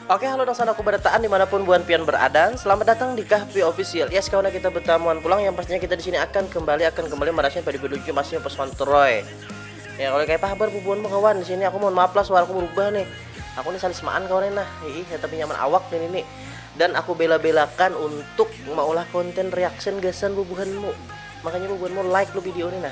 Oke halo dang sanaku barataan dimanapun buan pian beradan Selamat datang di Kahpi Official Yes kawan kita bertamuan pulang yang pastinya kita di sini akan kembali akan kembali merasakan pada video game aslinya pas kontroy Ya kalau kayak habar bubuan kawan di sini aku mohon maaf lah suara aku berubah nih Aku nih salismaan kawan nah Ih ya tapi nyaman awak nih ini Dan aku bela-belakan untuk maulah konten reaction gasan bubuhanmu Makanya bubuhanmu like lu video ini nah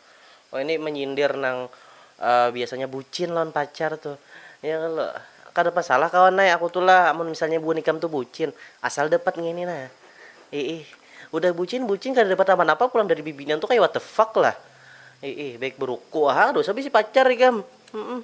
Oh ini menyindir nang biasanya bucin lawan pacar tu ya kalo kada masalah kawan ai aku tu lah amun misalnya buhan ikam tu bucin asal dapat ngini nah iih udah bucin bucin kada dapat apa apa pulang dari bibinian tu kaya what the fuck lah iih baik beruku ha dosa bisi pacar ikam humm.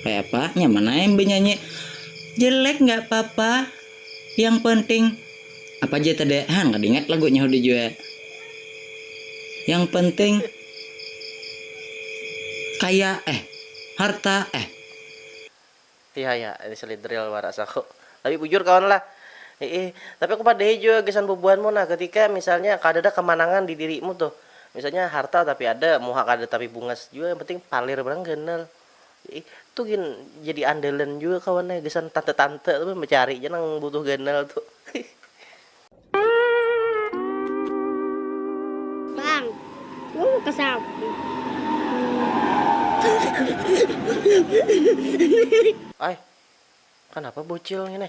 Kaya apa? Nyaman ai am benyanyi. Jelek nggak papa. Yang penting. Apa ja tadi? Han kada ingat lagunya hudah jua. Yang penting. Kaya eh. Harta eh. Iha iha ini sulit drill wara saku. Tapi bujur kawan lah. Iih. Tapi aku padahi jua gasan bubuhanmu nah ketika misalnya kadada kamanangan di dirimu tuh. Misalnya harta tapi ada, muha kada tapi bungas jua yang penting palir banar ganal. Itu gin jadi andalan jua kawan ai gasan tante-tante tu becari ja nang butuh ganal tu. Bang, gue mau ke samping. Ai, kanapa bocil ngini?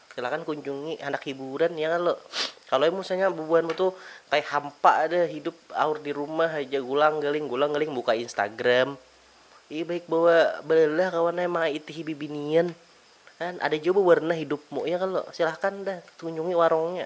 Silakan kunjungi handak hiburan ya kalo. Kalo ai musanya bubuhan mu tu kaya hampa ja hidup aur di rumah haja gulang galing gulang galing buka instagram ih baik bawa balelah kawan ai mangaitihi bibinian kan ada jua bewarna hidupmu ya kalo. Silakan dah kunjungi warungnya.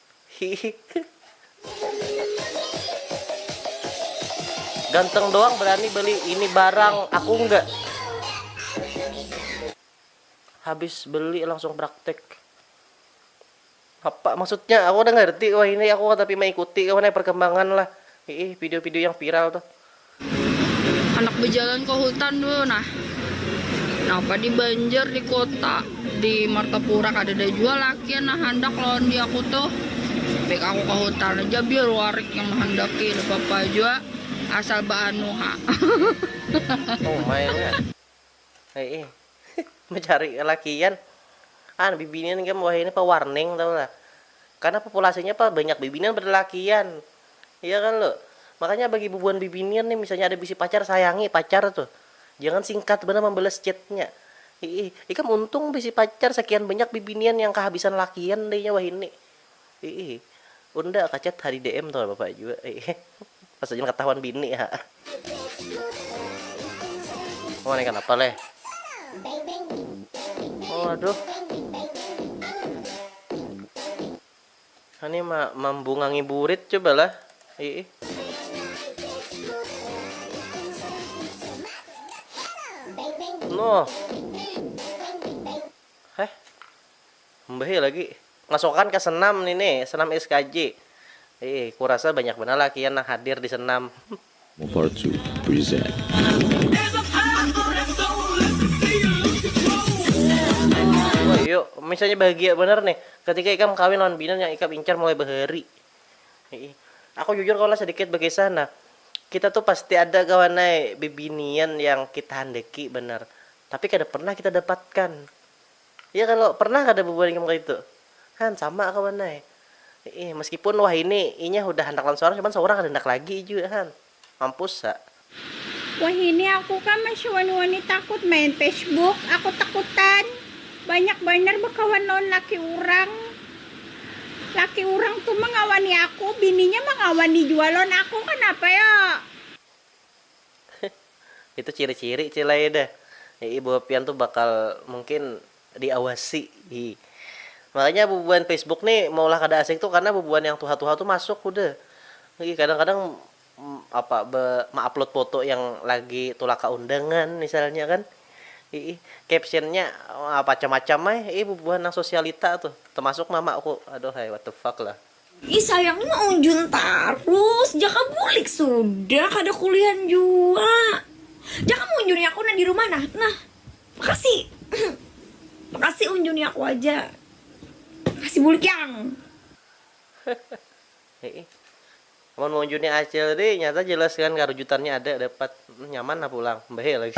Ganteng doang berani beli ini barang, aku enggak. Habis beli langsung praktek. Apa maksudnya? Aku udah ngerti wah ini aku tapi mengikuti kawan perkembangan lah. Ih, video-video yang viral tuh. Anak bejalan ke hutan dulu nah. Napa di Banjar di kota di Martapura kadada jua lakian nah handak lawan diaku tuh. Pik aku ke hutan aja biar warik yang menghendaki napa-apa jua asal beanu ha. Hei, mencari kelakian. Ah, bibinian game wah ini pewarning tau lah. Karena populasinya apa banyak bibinian berlakian. Iya kan lo? Makanya bagi bubuhan bibinian nih misalnya ada bisi pacar sayangi pacar tuh. Jangan singkat benar membalas chatnya. Hei, ikam untung bisi pacar sekian banyak bibinian yang kehabisan lakian deh wah ini. Iih. Unda kacat ha di DM tuh bapak jua. Pas saja katahuan bini ha. Wah nih kanapa leh. Oh aduh. Ini ma mambungangi burit cobalah. Iih. Noh. Heh. Mbah'e lagi masukan ka senam ni ne, senam skj. Ee, kurasa banyak banar lakian nang hadir di senam. Mopartu present. Woi yuk, misalnya bahagia banar nih ketika ikam kawin lawan bini nang ikam incar mulai bahari. Hii. Aku jujur kawan lah sedikit bakisah nah. Kita tuh pasti ada kawan ai bibinian yang kita handaki banar, tapi kada pernah kita dapatkan. Ya kalo, pernah kada bubuhan ikam kaitu? Han, sama kawan ai. Iih, meskipun wahini inya hudah handak lawan sorang, cuman saurang kada handak lagi jua Han. Mampus ha. Wahini aku kah masih wani-wani takut main Facebook, aku takutan banyak banar bakawan lawan laki urang. Laki urang tu mangawani aku, bininya mangawani jua lawan aku, kanapa yo? Itu ciri-ciri cil ai dah ibu pian tu bakal mungkin diawasi hi. Makanya bubuhan facebook ni maulah kada asik tu karna bubuhan yang tuha-tuha tu masuk hudah. Hi kadang-kadang apa be meupload foto yang lagi tulak ka undangan misalnya kan. Hi captionnya macam-macam ai hi bubuhan nang sosialita tu termasuk mamaku aduhai what the fuck lah. Ih sayang mah unjun tarus, jaka bulik sudah kada kulihan jua. Jaka munjuni aku nah di rumah nah, nah. Makasih. Makasih unjuni aku aja. Makasih bulik yang. Hiih. Amun maunjuni acil ri nyata jelas kan karujutannya ada dapat. Hmm nyaman nah pulang. Mbahee lagi.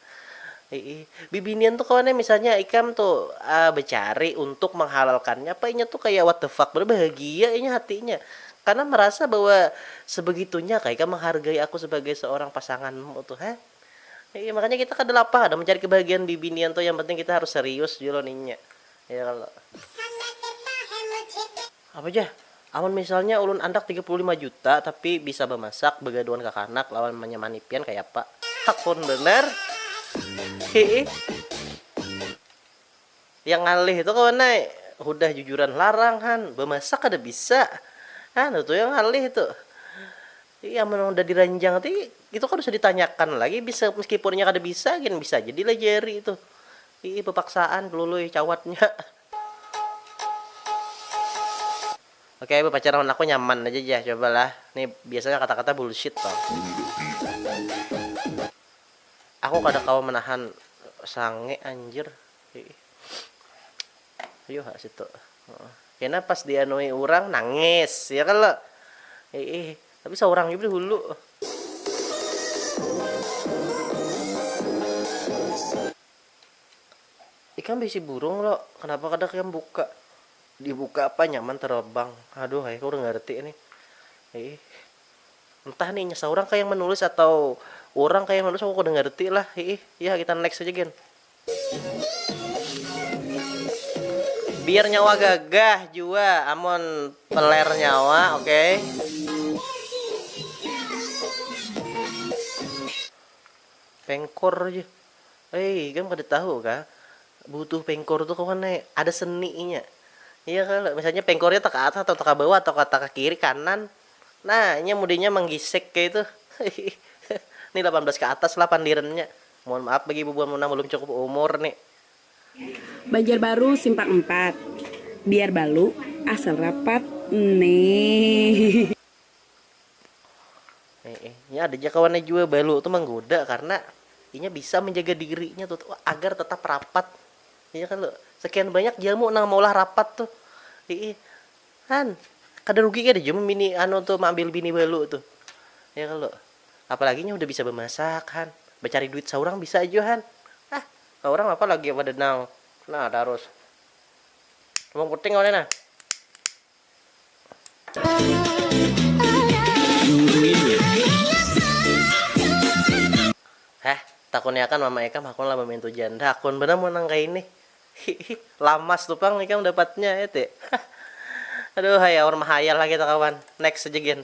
Iih, bibinian tu kawan ai misalnya ikam tu becari untuk menghalalkannya apa inya tu kaya what the fuck banar bahagia inya hatinya karena merasa bahwa sebegitunya kah ikam menghargai aku sebagai seorang pasanganmu tu ha, iih makanya kita kada lapang ada mencari kebahagiaan bibinian tu yang penting kita harus serius jua lawan inya ya kalo. Apa jar, amun misalnya ulun andak tiga puluh lima juta tapi bisa bamasak, bagaduan kakanak lawan manyamani pian kayapa? Hakun banar. Hihi. Yang ngalih tu kawan ai, hudah jujuran larang han, bamasak kada bisa. Hah nutu yang ngalih tu. Hihi amun hudah diranjang ti itu kada usah ditanyakan lagi bisa meskipun inya kada bisa gin bisa ja dilajari tu. Hihi bapaksaan Lului cawatnya. Oke bapacaran wan aku nyaman aja jah coba lah ni biasanya kata kata bullshit pang. Aku kada kawa menahan sange anjir iih ayu ha situ kena pas di anui urang nangis ya kalo iih tapi saurang jua dahulu. Ikam bisi burung lo, kenapa kada ikam buka, dibuka apa nyaman terbang, aduh ai kurang ngerti nih, hiih entah nih inya saurang kah yang menulis atau urang kah yang menulis aku kada ngerti lah, hiih yah kita next haja gin. Biar nyawa gagah jua amun teler nyawa okay. Pengkor ja. Hei, ikam kada tahu kah? Butuh pengkor tu kawan ai, ada seni inya. Iya kalo, misalnya pengkornya taka atas atau taka bawah atau taka kiri kanan. Nah, inya mudinya manggisek kaya itu. Ni lapan belas ka atas lah pandirannya. Mohon maaf bagi ibu buan nang balum cukup umur ni. Banjarbaru simpang empat biar balu asal rapat neh. Eh, eh. Ini ada aja kawannya juga balu tuh menggoda karena inya bisa menjaga dirinya tuh agar tetap rapat. Iya kan lo. Sekian banyak jamu nang maulah rapat tuh. Ih, kan kada rugi kada jum bini anu tuh mengambil bini balu tuh. Iya kan lo. Apalagi nya udah bisa bemasak kan. Bercari duit seorang bisa aja kan. Ah, seorang apa lagi pada nang. Nah, terus. Wong penting kawannya nah. Heh, takuniakan mama ikam hakun lah bamintu janda, hakun banar mun nang kaini. Hihih, lamas tu pang ikam dapatnya, ya ti. Hah. Aduuhhai aur mahayal ha kita kawan. Next aja gin.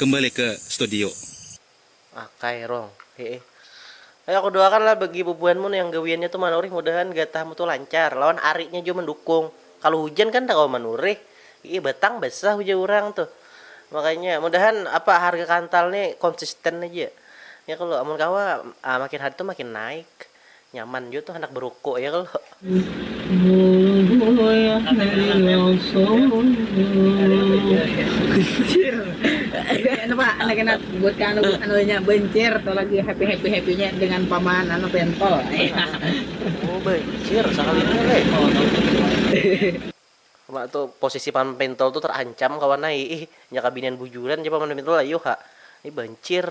kembali ke studio. Akay rong, hiih. Ayu aku doakan lah bagi bubuhanmu nu yang gawiannya tu manurih mudahan gatahmu tu lancar, lawan arinya jua mandukung. Kalu hujan kan nda kawa manurih, hiih batang basah ujar urang tuh. Makanya mudahan apa harga kantal ni konsisten haja. Ya kalo, amun kawa makin hari tu makin naik. Nyaman jua tuh handak beruku ya kalo. Uma tu posisi paman pentol tu terancam kawan ai ih nya kah binian bujuran jar paman pentol ayuh ha ni bancir.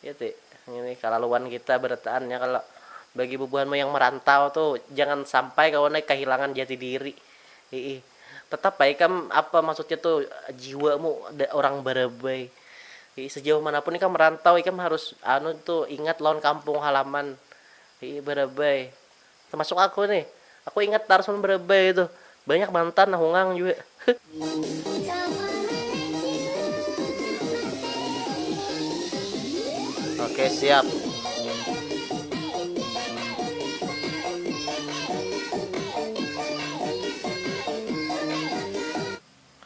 Iya ti, ngini kalaluan kita barataan ya kalo bagi bubuhanmu yang merantau tu jangan sampai kawan ai kahilangan jati diri, hiih tetap ai ikam apa maksudnya tu jiwamu orang barabai, hiih sejauh mana pun ikam merantau ikam harus anu tu ingat lawan kampung halaman, hiih barabai Tamasuk aku ni. Aku ingat tarus mun barabai itu. Banyak mantan nah hungang jua. Oke siap.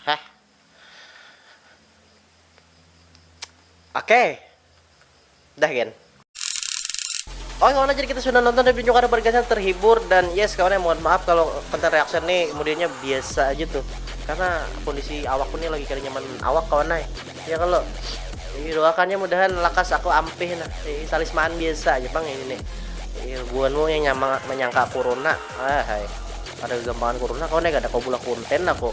Heh. Oke. Dah gen. Oke kawan jadi kita sudah nonton reviewnya karena bergasnya terhibur dan yes kawan ya mohon maaf kalau konten reaction nih kemudiannya biasa aja tuh karena kondisi awak pun nih lagi kali nyaman awak kawan ya ya kalau ini doakannya mudahan lakas aku ampih nah ini talisman biasa aja bang ini nih ilmuanmu yang nyamang menyangka corona ah hai ada gampangan corona kawan ya gak ada kau bulah konten aku